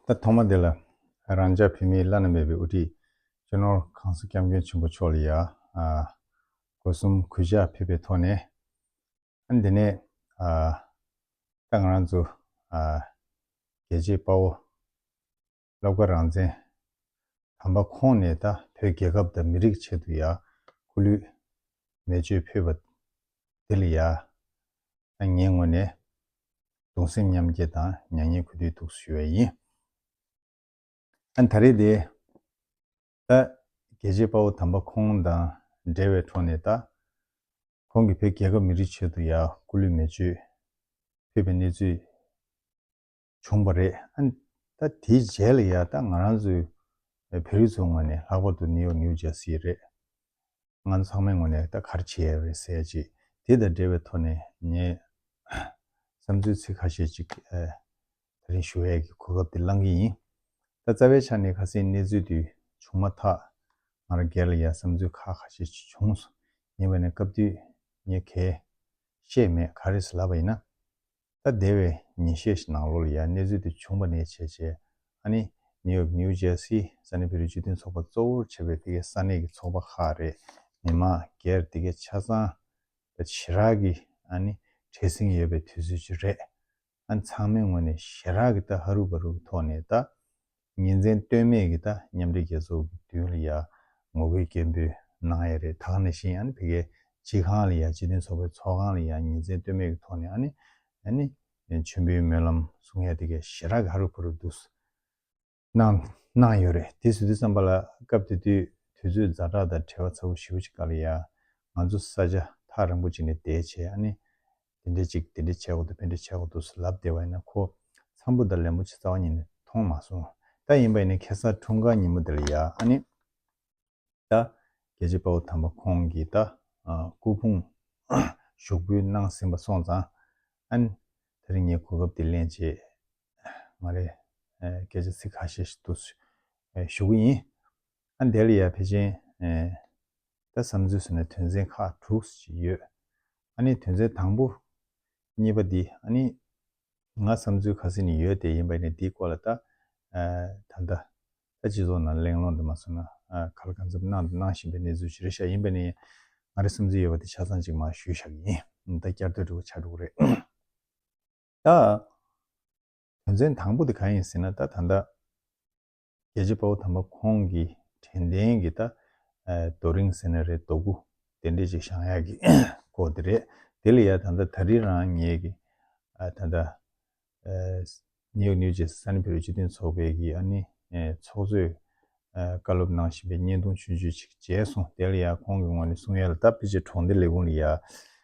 ད་ཐོག་མ་དེ་ལ་རང་ཅག་བོད་མིའི་བླ་ན་མེད་པའི་དབུ་ཁྲིད་སྤྱི་ནོར་ཁང་སོ་སྐྱབས་མགོན་ཆེན་པོ་མཆོག་ལ་ཡང་སྒོ་གསུམ་གུས་ཕྱག་ཕེབས་པའི་ཐོག་ནས། དེ་ནས་ད་ང་རང་ཚོ་རྒྱལ་གཅེས་དཔའ་བོ་ལབ་ཀ་རང་བཙན། དམ་པ་ཁོང་ནས་ད་བོད་རྒྱལ་ཁབ་དང་མི་རིགས་ཆེད་དུ་ཡ་ཁུ་ལུད་མེ་བཅོས་ཕུད་པ་འདི་ལ་ཡ་ད་ངས་ངོ་ནས་གདུང་སེམས་མཉམ་སྐྱེ་དང་མྱ་ངན་གུས་འདུད་ཐུགས་སུ་ཞུ་བ་ཡིན། ཨ་ད་རེ་དེ་ད་རྒྱལ་གཅེས་དཔའ་བོ་དམ་པ་ཁོང་དང་འབྲེལ་བའི་འཕྲོ་ནས་ད་ཁོང་གི་བོད་རྒྱལ་ཁབ་མི་རིགས་ཆེད་དུ་ཡ་ཁུ་ལུད་མེ་བཅོས་ཕུད་པའི་གནས་ཚུལ་བྱུང་བ་རེད། ད་དེའི་རྗེས་ལ་ཡང་ད་ང་རང་ཚོའི་བོད་རིགས་ཚོའི་ངོས་ནས་ལྷག་པར་དུ་ནིའུ་ཡོག་ནིའུ་ཇར་སི་རེད། ང་ཚོ་ཚང་མའི་ངོས་ནས་ད་གར་བྱེད་ཡས་རེད་ཟེར་ཅིག་དེ་དང་འབྲེལ་བའི་ཐོག་ནས་ངས་བསམ་ཚུལ་ཚིག་ཁ་ཤས་ཅིག་ད་རིང་ཞུ་ཡས་ཀྱི་གོ་སྐབས་དེ་བླང་གི་ཡིན། ད་རྩ་བའི་ཆ་ནས་ཁ་སེང་གནས་ཚུལ་དེ་བྱུང་མ་ཐག་ང་རང་སྒེར་ལ་ཡང་བསམ་ཚུལ་ཁ་ཁ་ཤས་ཅིག་བྱུང་སོང་ངེས་པ་ནས་སྐབས་དུས་ངས་གས་བཤད་མེད་ག་རེ་ཟེར་ལབ་པ་ཡིན་ན། ད་ལྟའི་བའི་ཉིན་ཤས་ཤིག་ནང་ལོགས་ལ་ཡང་གནས་ཚུལ་དེ་བྱུང་པ་ནས་བྱས་བྱས་ཨ་ནི་ནིའུ་ཡོག New Jersey ས་གནས་བོད་རིགས་སྤྱི་མཐུན་ཚོགས་པ་གཙོ་བོར་བྱས་པའི་དེ་གའི་ས་གནས་ཀྱི་ཚོགས་པ་ཁག་རེས་མི་མང་སྒེར་དེ་གའི་ཆ་ཚང་དང་ཇེ་རགས་ཀྱི་ཨ་ནི་བྲེལ་ཟིང་ཡོད་པའི་དུས་ཚོད་ཅིག་རེད་ཨ་ནི་ཚང་མའི་ངོས་ནས་ཞེ་རགས་ཀྱི་ད་ཧ་རུ་བ་རུ་གི་ཐོག་ནས་ད་ཉིན་མཚན་ལྟོས་མེད་ཀྱི་ད་མཉམ་འབྲེལ་རྒྱལ་ཚོགས་ཀྱི་དུས་ཡུན་ལ་ཡར་ངོ་རྒོལ་སྐད་འབོད་གནང་ཡས་རེད་ད་ནི་ཤིན་ཨ་ཕི་གའི་སྤྱི་ཁང་ལ་ཡ་སྤྱི་མཐུན་ཚོགས་པའི་ཚོགས་ཁང་ལ་ཡ་ཉིན་མཚན་ལྟོས་མེད་ཀྱི་ཐོག་ནས་ཨ་ནི་ཨ་ནི་མཆོད་འབུལ་སྨོན་ལམ་གསུང་ཡས་དེ་གའི་ཞེ་དྲག་ག་རུ་བུ་རུ་འདུག་གནང་གནང་ཡོད་རེད་དེ་སུ་དུས་བསམ་པ་ལ་སྐབས་དེ་དུས་དུས་ཚོད་རྫ་དྲག་དང་བྲེལ་བ་ཚ་བོ་ཞིག་བུ་ཅི་ག་ལ་ཡ་ང་ཚོ་ས་ཆ་ཐག་རིང་པོ་ཅིག་ནས་བསྡད་བྱས་ཨ་ནི་དེ་འདྲའི་ཅིག་དེ་འདྲའི་ཆས་གོ་འདུག་ཕན་འབྲས་ཆས་གོ་འདུག་ཟེར་ལབ་བསྡད་པ་ཡིན་ན་ཁོ་འཚམས་པོ་དང་ལན་པོ་ཆེ་རྩ་བ་ཉིད་ནས་མཐོང་མ་སོང་ད་ཡིན་པ་ཡིན་ན་ཁེ་སང་འཁྲུངས་སྐར་ཉིན་མོ་དེ་ལ་ཡ་ཨ་ནི་ད་རྒྱལ་གཅེས་དཔའ་བོ་དམ་པ་ཁོང་གིས་ད་སྐུ་ཕུང་ཞོགས་འབུལ་གནང་ཟིན་པ་སོང་ཙང་ཨ་ནི་དེ་རིང་ངས་གོ་སྐབས་དེ་ལེན་ཆེད་ང་རེ་སྐད་ཆ་ཚིག་ཁ་ཤས་ཤིག་བསྡུ་ཞུ་གི་ཡིན་ཨ་ནི་དེ་ལ་ཡ་ཕལ་ཆེན་ད་བསམ་ཚུལ་སོ་ནི་དོན་ཚན་ཁག་དྲུག་སུ་ཅིག་ཡོད། ཨ་ནི་དོན་ཚན་དང་པོ། གཉིས་པ་འདི་ཨ་ནི། ང་བསམ་ཚུལ་ག་ཟི་ནི་ཡོད་དེ་ཡིན་པ་ནི་འདིའི་སྐོར་ལ་ད། ད་ལྟ། ད་སྤྱི་ཚོགས་ནང་གླེང་སློང་དུ་མ་སོང་ན་གར་གང་འཚམ་གནང་དང་གནང་བཞིན་པའི་གནས་ཚུལ་ཞི་རེ་བཞག་ཡིན་པ་ནི། ང་རི་བསམ་ཚུལ་ཡོད་པ་དེ་ཆ་ཚང་ཅིག་མ་ཞུས་བཞག་ཡིན། ད་བསྐྱར་ཟློས་དྲུག་ཆ་དྲུག་རེད། ད། དོན་ཚན་དང་པོ་དེ་གང་ཡིན་ཟེར་ན་ད་ད་ལྟ། རྒྱལ་གཅེས་དཔའ་བོ་དམ་པ་ཁོང་གི་དྲན་རྟེན་གྱི་ད་རྡོ་རིང་ཟེར་ན་རེད་རྡོ་སྐུ་དེ་འདྲས་ཅིག་ཞང་ཡག་གི་སྐོར་དེ་རེད་དེ་ལ་ཡ་ད་ད་ད་རི་རང་ངེད་ཀྱི་ད་ད་ནེའུ་ཡོག་ནིའུ་ཇེ་སཱ་ནི་བོད་རིགས་སྤྱི་མཐུན་ཚོགས་པའི་གི་ཨ་ནི་ཚོགས་གཙོས་བཀའ་སློབ་གནང་བཞིན་པའི་བརྙན་ཐུང་ཆུང་ཆུང་ཅིག་མཇལ་སོང་དེ་ལ་ཡ་ཁོང་གི་ངོ་ནས་གསུང་ཡ་ལ་ད་ཕི་ཆེ་གྲོང་སྡེ་ལས་ཁུངས་ལ་ཡ་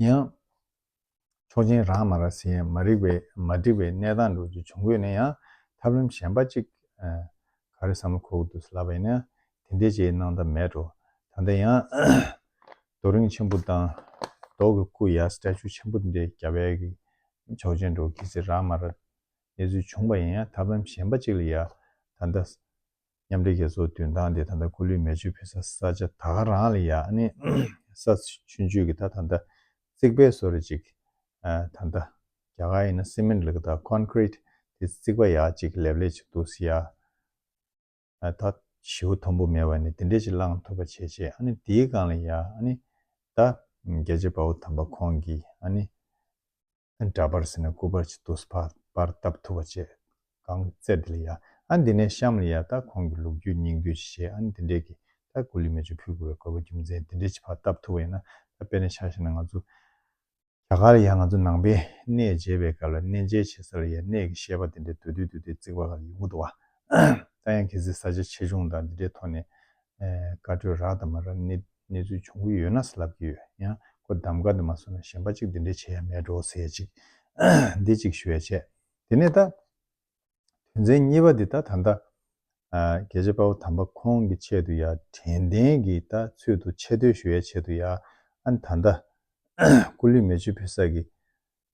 ཡང། ཆོག་མཆན་རག་མ་རག་ཟིན་ཡང་མ་རིག་པའི་མ་འགྲིག་པའི་གནས་སྟངས་འགྲོ་རྒྱུ་བྱུང་དགོས་ན་ཡང་ཐབས་ལམ་གཞན་པ་གཅིག་ག་རེ་བསམ་བློ་འཁོར་དགོས་འདུག་ལབ་པ་ཡིན་ན་དེ་འདྲའི་ཆེའི་གནང་ཐབས་མེད་འགྲོ་ད་ལྟ་ཡང། རྡོ་རིང་ཆེན་པོ་དང། མདོག་གི་སྐུ་ཡ Statue ཆེན་པོ་འདི་འདྲའི་རྒྱ་བལ་གྱི་ཆོག་མཆན་འགྲོ་གི་ཚེ་རག་མ་རག་གནས་ཚུལ་བྱུང་པ་ཡིན་ཡང་ཐབས་ལམ་གཞན་པ་གཅིག་ལ་ཡ་ད་ལྟ་མཉམ་འབྲེལ་རྒྱལ་ཚོགས་མདུན་ཐང་དེ་ད་ལྟ་ཁོ་ལུས་མེ་མཆོད་ཕེབས་ས་ས་ཆ་ད་ག་རང་ལ་ཡག་ནི་ས་ཆུ་མཆོད་གི་ད་ད་ད་བརྩིགས་པའི་སོ་རེ་ཅིག་ད་ད་རྒྱ་གར་ཡིན་ན་སེ་མེན་ལི་གི་ད Concrete དེ་བརྩིགས་པ་ཡག་ཅིག་ལེབ་ལེབ་ཅིག་འདུག་སི་ཡ་ད་བྱིའུ་མཐོན་པོ་མེད་པ་ནི་དེ་འདྲས་ཅིག་བླངས་ཐུབ་པ་བྱས་བྱས་ནི་དེའི་སྒང་ལ་ཡག་ནི་ད་རྒྱལ་གཅེས་དཔའ་བོ་དམ་པ་ཁོང་གིས་ནི་འདྲ་པར་ཟེར་ན་ཀུ་པར་གྱི་དུས་བབ་པར་བཏབ་ཐུབ་པ་བྱས། གང་གི་རྩད་དེ་ལ་ཡ། ཨ་འདི་ནས་གཤམ་ལ་ཡ་ད་ཁོང་གི་ལུགས་རྒྱུད་སྙིང་བསྡུས་ཀྱི་ཞེས་ཨ་འདི་འདྲས་ཀྱིས་ད་གུ་ལི་མེ་ཆུ་ཕུལ་དགོས་པའི་གོ་བ་རྒྱུ་མཚན་འདི་འདྲས་ཀྱི་བར་བཏབ་ཐུབ་པ་ཡིན་ན་ད་དཔེ་ན་ཆགས་ཤིག་ན་ང་ཚོ་རྒྱ་གར་ལ་ཡ་ང་ཚོ་ནང་པའི་གནས་མཇལ་བའི་སྐབས་ལ་གནས་མཇལ་བྱེད་ས་ལ་ཡ་གནས་ཀྱི་ཤེས་པ་འདི་འདྲས་བསྡུ་བསྡུ་བསྡུ་བསྡུས་བརྩིགས་པ་ག་ལ་ཡོད་མགུ་འདུག་ཨ། ད་ཡང་གལ་སྲིད་ས་ཆ་ཆེ་ཆུང་དང་འདི་འདྲའི་ཐོག་ནས་བཀའ་གྲོས་རག་དང་མ་རག་གནས་ཚུལ་བྱུང་གི་ཡོད་ན་ཟེར་ལབ་ཀྱི་ཡོད་ཡང་ཁོ་གདམ་དགའ་འདི་མ་སོང་ན་གཞན་པ་གཅིག་འདི་འདྲས་བྱེད་ཡ་མེད་འགྲོ་ཟེར་ཅིག་འདི་གཅིག་ཞུ་བས་བྱས་དེ་ནས་ད། དོན་ཚན་གཉིས་པ་འདི་ད་ད་ལྟ་རྒྱལ་གཅེས་དཔའ་བོ་དམ་པ་ཁོང་གི་ཆེད་དུ་ཡ་དྲན་རྟེན་གྱི་ད་ཚུལ་དུ་ཆེ་བསྟོད་ཞུ་ཡའི་ཆེད་དུ་ཡ་ཨ་ད་ད་སྐུ་ལུས་མེ་མཆོད་ཕུལ་ས་གི་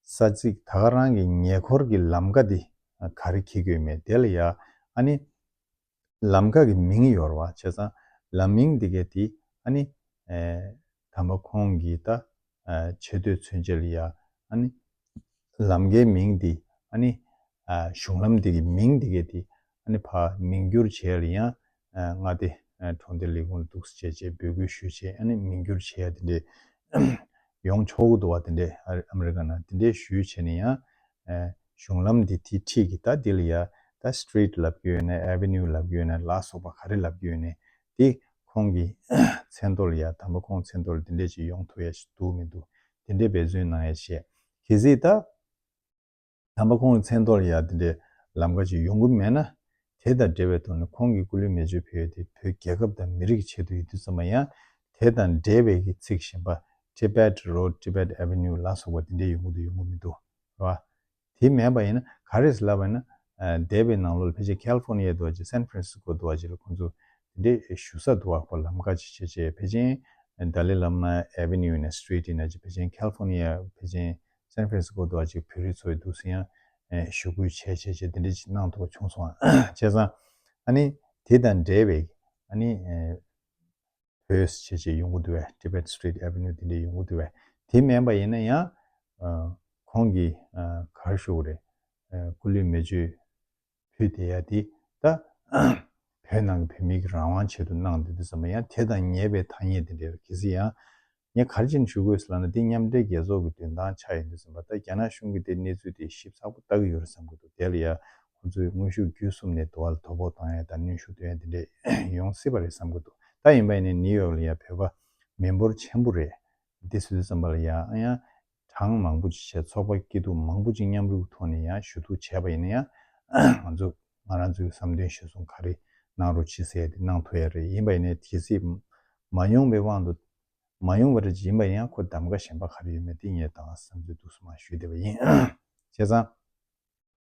ས་ཚིག་ད་ག་རང་གི་ཉེ་འཁོར་གི་ལམ་ཀ་འདི་ག་རེ་ཁྱི་རྒོད་མེད་དེ་ལ་ཡ་ཨ་ནི། ལམ་ཁ་གི་མིང་ཡོར་བ་བྱས་ཙང་ལམ་མིང་འདི་གའི་དེ་ཨ་ནི། དམ་པ་ཁོང་གིས་ད་ཆེ་བསྟོད་མཚོན་བྱེད་ལ་ཡ་ཨ་ནི། ལམ་འགའི་མིང་འདི་ཨ་ནི། གཞུང་ལམ་འདི་གའི་མིང་འདི་གའི་དེ་ཨ་ནི་བར་མིང་བསྒྱུར་བྱས་ལ་ཡང་མངའ་སྡེ་གྲོང་སྡེ་ལས་ཁུངས་ལ་གདུགས་བྱས་རྗེས་འབོད་སྐུལ་ཞུས་རྗེས་ཨ་ནི་མིང་བསྒྱུར་བྱས་དེ་འདྲས་ཡོང་ཆོག་གི་འདུག་བ་དེ་འདྲས་ཨ་མི་རི་ཀ་ནང་དེ་འདྲས་ཞུས་བྱས་ནས་ཡང་གཞུང་ལམ་འདི་དེའི་འཁྲིས་ཀྱི་ད་འདི་ལ་ཡ། ད Street ལབ་ཀྱི་ཡོད་ནས Avenue ལབ་ཀྱི་ཡོད་ནས་ལ་སོགས་པ་ག་རེ་ལབ་ཀྱི་ཡོད་ནས་དེ་ཁོང་གི་མཚན་ཐོ་ལ་ཡ་དམ་པ་ཁོང་མཚན་ཐོ་ལ་འདི་འདྲས་ཅིག་ཡོང་ཐུབ་ཡ་ཞིག་འདུག་མི་འདུག་དེ་འདྲས་འབད་བརྩོན་གནང་ཡ་ཞེས་གལ་སྲིད་ད་དམ་པ་ཁོང་གི་མཚན་ཐོ་ལ་ཡ་འདི་འདྲས་ལམ་ཀ་ཅིག་ཡོང་གི་མེད་ན་དེ་དང་འབྲེལ་བའི་ཐོག་ནས་ཁོང་གིས་སྐུ་ལུས་མེ་མཆོད་འཕེལ་ཡོད་དེ་བོད་རྒྱལ་ཁབ་དང་མི་རིགས་ཀྱི་ཆེད་དུ་ཡིད་རྟོན་ཚང་མ་ཡང་དེ་དང་འབྲེལ་བའི་གི་ཚིག་གཞན་པ Tibet Road Tibet Avenue ལ་སོགས་པ་དེ་འདྲའི་ཡོང་གི་འདུག་ཡོང་གི་མི་འདུག་བ། དེ་མེད་པ་ཡིན་ན་ག་རེ་ལབ་པ་ཡིན་ན་འདས་པའི་ནང་ལོ་ལ་ཕལ་ཆེར California དུ་བ་ཅིག San Francisco དུ་བ་ཅིག་ལ་ཁོང་ཚོ་དེ་འདྲའི་ཞུ་ས་དུ་བ་ཁོ་ལམ་ཁ་ཅིག་བྱེད་ཆེད་བེ་ཅིང Dalai Lama Avenue ནས Street ཡིན་ན་ཅིག་བེ་ཅིང California བེ་ཅིང་སན་ཧྥེ་སི་ཀོ་དུ་གཅིག་བོད་རིགས་ཚོའི་འདུག་སའི་ཡང་ཞུ་སྐུལ་བྱས་བྱས་བྱས་དེ་འདྲའི་ཅིག་གནང་ཐོག་བྱུང་སོང་བྱས་ཙང་ཨ་ནི་དེ་དང་འབྲེལ་བའི་ཨ་ནི་བོད་ཅེས་བྱས་ཡོང་གི་འདུག་བས Tibet Street Avenue དེ་འདྲའི་ཡོང་གི་འདུག་བས་དེ་སྨན་པ་ཡིན་ན་ཡང་ཁོང་གིས་གར་ཞུ་གི་རེད་སྐུ་ལུས་མེ་མཆོད་བུད་བསྡད་ཡ་དེ་ད། བོད་ནང་གི་བོད་མི་གི་རང་དབང་ཆེད་དུ་གནང་འདོད་དེ་ཟ་མ་ཡ་དེ་དང་ཉེས་པའི་ཐ་སྙད་དེ་འདྲས་རེད་གལ་སྲིད་ཡང། ངས་གར་ཅིག་ཞུ་དགོས་ཟེར་ལབ་ན་དེ་མཉམ་འབྲེལ་རྒྱལ་ཚོགས་ཀྱི་མདུན་ཐང་ཆགས་ཡོད་འདུག་ཟེར་བ་ལྟར་རྒྱ་ནག་གཞུང་གིས་དེ་གནས་ཚུལ་དེ་ཞིབ་ཚགས་པོ་ལྟ་གི་ཡོད་རེད་བསམ་གི་འདུག་དེ་ལ་ཡ་ཁོང་ཚོས་དངོས་ཤུགས་བརྒྱུད་གསུམ་ནས་དུ་བ་ལ་དོ་ཕོག་བཏང་ཡ་དང་གནོན་ཤུགས་སྟོན་ཡ་དེ་འདྲས་ཡོང་སྲིད་པ་རེད་བསམ་གི་འདུག་ད་ཡིན་པ་ཡིན་ནའི་ནིའུ་ཡོག་ལ་ཡ་བོད་པ་མི་འབོར་ཆེན་པོ་རེད་དེ་ཟེར་དུས་བསམ་པ་ལ་ཡ་ཨང་ཡང། གྲངས་མང་པོ་ཅིག་བྱས་ཚོགས་པ་སྐྱིད་སྡུག་མང་པོ་ཅིག་མཉམ་རུབ་ཐོག་ནས་ཡང་ཞུ་གཏུག་བྱས་པ་ཡིན་ན་ཡང། ང་ཚོ་ང་རང་ཚོའི་བསམ་དོན་ཞུ་གསུང་ག་རེ་གནང་རོགས་ཕྱི་གསལ་དེ་གནང་ཐུབ་ཡ་རེད་ཡིན་པ་ཡིན་ནའི་དེ་སྲིད་མ་ཡོང་པའི་དབང་དུ། མ་ཡོང་བ་རེད་ཅེས་ཡིན་པ་ཡིན་ཡང་ཁོ་གདམ་ག་གཞན་པ་ག་རེ་ཡོད་མེད་དེ་ངས་ད་བར་བསམ་ཚུལ་སྡུག་གསུམ་མ་ཞུས་བསྡད་པ་ཡིན། བྱས་ཙང།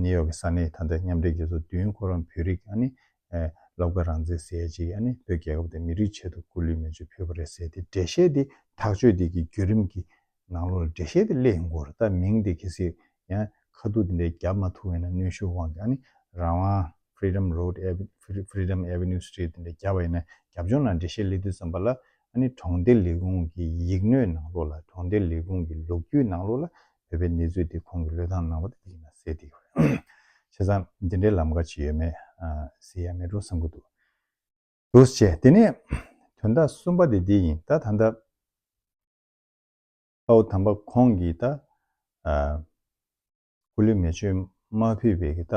ནིའུ་ཡོག་གི་ས་གནས་ད་ལྟའི་མཉམ་འབྲེལ་རྒྱལ་ཚོགས་བདུན་ཁོ་རང་བོད་རིགས་སློབ་དགའ་རང་བཙན་ཟེར་ཡས་ཅིག་བོད་རྒྱལ་ཁབ་དེ་མི་རིགས་ཆེད་དུ་སྐུ་ལུས་མེ་ཆུ་ཕུལ་བ་རེད་ཟེར་ཏེ་འགྲེལ་བཤད་འདི་ཐག་གཅོད་འདི་གི་བརྒྱུད་རིམ་གི་ནང་ལོ་ལ་འགྲེལ་བཤད་འདི་གླེང་དགོས་རེད་ད་མིང་འདི་གལ་སྲིད་ཡང་ཁ་ཐུག་འདི་འདྲའི་རྒྱབ་མ་ཐུག་ཡིན་ན་གནོན་ཤུགས་དབང་གིས་རང་དབང Freedom Road Freedom Avenue Street འདི་འདྲ་རྒྱབ་པ་ཡིན་ན་རྒྱབ་ལྗོངས་ནང་འགྲེལ་བཤད་གླེང་དུས་ཙམ་པ་ལ་གྲོང་སྡེ་ལས་ཁུངས་ཀྱི་ཡིག་སྣོད་ནང་ལོ་ལ་གྲོང་སྡེ་ལས་ཁུངས་ཀྱི་ལོ་རྒྱུས་ནང་ལོ་ལ་བོད་པའི་གནས་ཚུལ་དེ་ཁོང་གི་བློས་བཏང་ནང་པ་དེ་ཡིན་ན་ཟེར་དེ་ཡོད་རེད། བྱས་ཙང་དེ་འདྲའི་ལམ་ཁ་ཅིག་ཡོད་མེད་ཟེར་ཡ་མེད་འགྲོ་བསམ་གྱི་འདུག་འདུག་བྱས་དེ་ནས་དོན་དག་གསུམ་པ་དེ་འདི་ཡིན་ད་ད་ལྟ་དཔའ་བོ་དམ་པ་ཁོང་གིས་ད་སྐུ་ལུས་མེ་མཆོད་མ་ཕུལ་བས་ཀྱི་ད་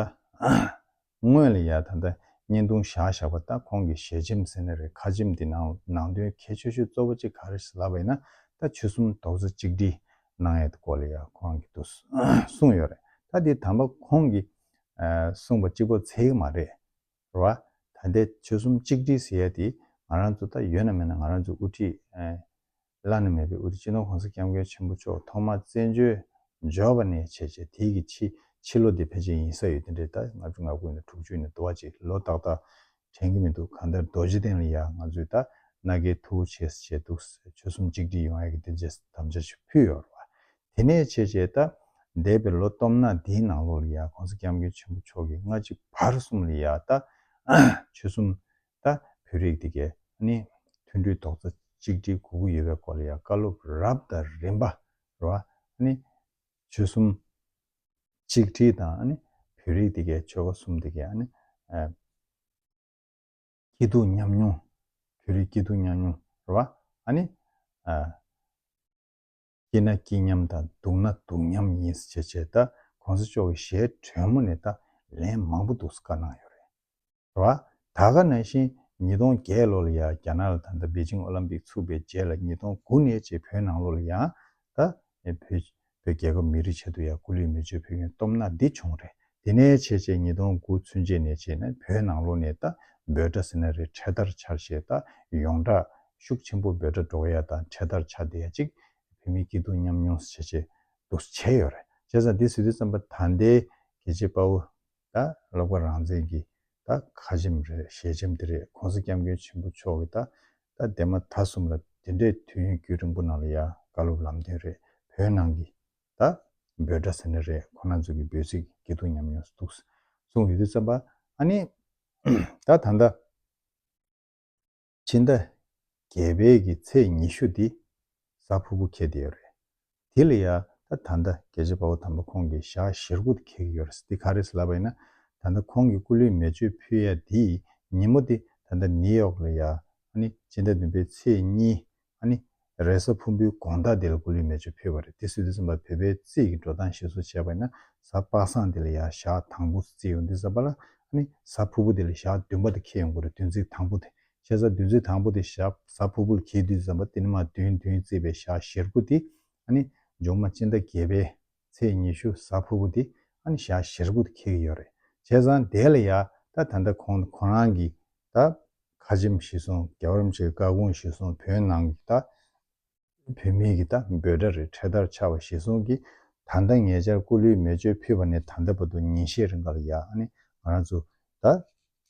དངོས་ལ་ཡང་ད་ལྟ་བརྙན་ཐུང་བཞག་བཞག་པ་ལྟ་ཁོང་གི་ཞལ་ཆེམས་ཟེར་ན་རེ་ཁ་ཆེམས་འདི་ནང་ནང་དོན་གལ་ཆོད་ཆོད་གཙོ་བོ་གཅིག་ག་རེ་ཟེར་ལབ་པ་ཡིན་ན་ད་ཆོལ་གསུམ་རྡོག་རྩ་གཅིག་སྒྲིལ་གནང་ཡས་དགོས་ལ་ཡག་ཁོང་གི་དུ་གསུངས་ཡོད་རེད་ད་འདི་དམ་པ་ཁོང་གི་གསུངས་པ་གཅིག་པོ་ཚད་ཡིག་མ་རེད་ར་བ་ད་འདས་ཆོལ་གསུམ་གཅིག་སྒྲིལ་ཟེར་ཡས་དེ་ང་རང་ཚོ་ད་ཡོད་ན་མེད་ན་ང་རང་ཚོ་དབུ་ཁྲིད་བླ་ན་མེད་པའི་དབུ་རྒྱུད་སྤྱི་ནོར་གོང་ས་སྐྱབས་མགོན་ཆེན་པོ་མཆོག་ཐོག་མ་བཙན་བྱོལ་འབྱོར་བ་ནས་བྱས་རྗེས་དེའི་གི་ཕྱི་ཕྱི་ལོ་འདི་ཕལ་ཆེར་ཡིན་ས་ཡོད་དེ་འདྲའི་ཟླ་ལྔ་བཅུ་ང་དགུ་ཡིན་ད་དྲུག་ཅུ་ཡིན་ད་དུ་བ་གཅིག་ལོ་ཏག་ཏག་དྲན་གི་མི་འདུག་གང་ལྟར་རྡོ་རྗེ་གདན་ལ་ཡ་ང་ཚོས་ད་ནག་གི་ཐུ་བོ་ཆེ་ཟེར་བྱས་འདུག་ཟེར་ཆོལ་གསུམ་གཅིག་སྒྲིལ་ཡོང་ཡ་གི་འདི་རྗེས་སུ་དམ་བཅའ་ཞིག་ཕུལ་ཡོད་རེད་བ། དེ་ནས་བྱས་རྗེས་ད་འདས་པའི་ལོ་སྟོང་ན་དེའི་ནང་ལོགས་ལ་ཡ་གོང་ས་སྐྱབས་མགོན་ཆེན་པོ་མཆོག་གི་ལྔ་གཅིག་བར་གསུམ་ལ་ཡ་ད་ཆོལ་གསུམ་ད་བོད་རིགས་འདི་གས་ནི་མཐུན་སྒྲིལ་རྡོག་རྩ་གཅིག་སྒྲིལ་དགོས་ཀྱི་ཡོད་པའི་སྐོར་ལ་ཡང་བཀའ་སློབ་རབ་དང་རིམ་པ་རོ། ཆོལ་གསུམ་གཅིག་སྒྲིལ་དང་བོད་རིགས་འདི་གས་ཆོལ་ཁ་གསུམ་འདི་གས་སྐྱིད་སྡུག་མཉམ་མྱོང་བོད་རིགས་སྐྱིད་སྡུག་མཉམ་མྱོང་རོ། སྐྱིད་ན་སྐྱིད་མཉམ་དང་སྡུག་ན་སྡུག་མཉམ་ཡིན་ཟེར་བྱས་བྱས་ད་གོང་ས་མཆོག་གི་ཞལ་དྲོན་མོ་ནས་ད་ལན་མང་པོ་འདུག་ཟེར་བཀའ་གནང་ཡོད་རེད་བ། ད་ག་ནང་བཞིན་ཉིས་སྟོང་བརྒྱད་ལོ་ལ་ཡང་རྒྱ་ནག་ལ་ད་ལྟ་པེ་ཅིང་ཨོ་ལམ་པིག་ཚུགས་པའི་རྗེས་ལ་ཉིས་སྟོང་དགུ་ནས་རྗེས་བོད་ནང་ལོ་ལ་ཡང་ད་བོད་རྒྱལ་ཁབ་མི་རིགས་ཆེད་དུ་ཡང་སྐུ་ལུས་མེ་མཆོད་ཕུལ་མཁན་སྟོབས་ནག་འདི་བྱུང་རེད་དེ་ནས་ཕྱེད་ཕྱེད་ཉིས་སྟོང་དགུ་ཚུན་ཆད་ནས་བྱས་ནས་བོད་ནང་ལོ་ནས་ད་འབོད་སྒྲ་ཟེར་ན་རེད་འཕྲད་དར་འཕྱར་ཞེས་ད་ཡོང་སྒྲ་ཤུགས་ཆེན་པོ་འབོད་སྒྲ་སྒྲོག་ཡ་ད་འཕྲད་དར་འཕྱར་བསྡད་ཡ་གཅིག་བོད་མི་སྐྱིད་སྡུག་མཉམ་མྱོང་ཟེར་བྱས་བྱས་འདུག་བྱས་ཡོད་རེད་བྱས་ཙང་འདི་ཟེར་དུས་བརྩམས་པ་ད་ལྟའི་གལ་ཆེ་དཔའ་བོ་ད་ཀློག་པ་རང་བཙན་གྱི་ད་ཁ་ཆེམས་རེད་ཞལ་ཆེམས་དེ་རེད་གོང་ས་སྐྱབས་མགོན་ཆེན་པོ་མཆོག་གིས་ད་ད་འདས་མ་ད་གསུམ་ལ་དེ་འདྲའི་དུས་ཡུན་རྒྱུན་རིང་པོ་ནང་ལ་ཡ་དགའ་ལོབས་ལམ་སྟོན་རེད་བོད་ནང་གི་ད། འབོད་སྒྲ་ཟེར་ནི་རེད་ཁོ་ན་ཚོ་གི་འབོད་ཚིག་གི་འདུག་ཉམས་མྱོང་སྡུག་གསུངས་ཡོད་དུས་བརྩམས་པ་ཨ་ནི། ད་ད་ལྟ། ཕྱི་ཟླ། བརྒྱད་པའི་གི་ཚེས་ཉི་ཤུ་འདི། གཟའ་ཕུར་བུ་ཁེལ་དེ་ཡོད་རེད། དེ་ལ་ཡང་ད་ད་ལྟ་རྒྱལ་གཅེས་དཔའ་བོ་དམ་པ་ཁོང་གི་ཞག་བཞིར་དགུ་དེ་ཁེལ་གི་ཡོད་རེད་འདི་ག་རེད་ལབ་པ་ཡིན་ན། ད་ད་ཁོང་གི་སྐུ་ལུས་མེ་མཆོད་ཕུལ་ཡ་དེའི་ཉིན་མོ་འདི་ད་ད་ནི་ཡོག་ལ་ཡང་ཨ་ནི་ཕྱི་ཟླ་བདུན་པའི་ཚེས་གཉིས་ཨ་ནི། རེས་གཟའ་ཕུན་པོའི་དགོངས་དག་འདི་ལ་སྐུ་ལུས་མེ་མཆོད་ཕུལ་བ་རེད་དེ་སུས་འདི་གསུངས་པ་བོད་པའི་རྩིས་ཀྱི་འགྲོ་སྟངས་ཤེས་བཟོ་བྱས་པ་ཡིན་ན་གཟའ་དཔག་བསམ་འདི་ལ་ཡང་ཞག་དང་པོ་རྩིས་ཡོང་འདི་གཟའ་པ་ལ་ཨ་ནི་གཟའ་ཕུར་བུ་འདི་ལ་ཞག་བདུན་པ་དེ་ཁེལ་ཡོང་དགོས་རེད་བདུན་རྩིས་དང་པོ་དེ་ཤེས་གཟའ་བདུན་རྩིས་དང་པོ་དེ་ཞག་གཟའ་ཕུར་བུ་ལ་ཁེལ་དུས་གཟའ་པ་དེ་ནི་མ་བདུན་བདུན་རྩིས་པའི་ཞག་བཞིར་དགོས་དེ་ཨ་ནི་འབྱུང་མ་སྤྱིན་ཟླ་བརྒྱད་པའི། ཚེས་ཉི་ཤུ་གཟའ་ཕུར་བུ་དེ་ཨ་ནི་ཞག་བཞི་རེ་གུག་ཏུ་འཁེལ་གི་ཡོད་རེད་བྱས་ཙང་དེ་ལ་ཡ་ད་ད་ལྟ་ཁོང་ཁོ་རང་གིས་ད་ཁ་ཆེམས་བཞེས་སོང་རྒྱ་བར་མཆིས་བཀའ་དགོངས་བཞེས་སོང་བོད་ནང་གི་ད་བོད་མི་གི་ད་འབོད་སྒྲ་རེ་འཕྲེད་དར་ཆགས་བ་བཞེས་སོང་གི་ད་ད་ངེད་ཅར་སྐུ་ལུས་མེ་མཆོད་ཕུལ་བ་ནས་ད་ད་བར་དུ་ཉིན་ཤས་རེ་འགའ་ལ་ཡ་ཨ་ནི་ང་རང་ཚོ་ད་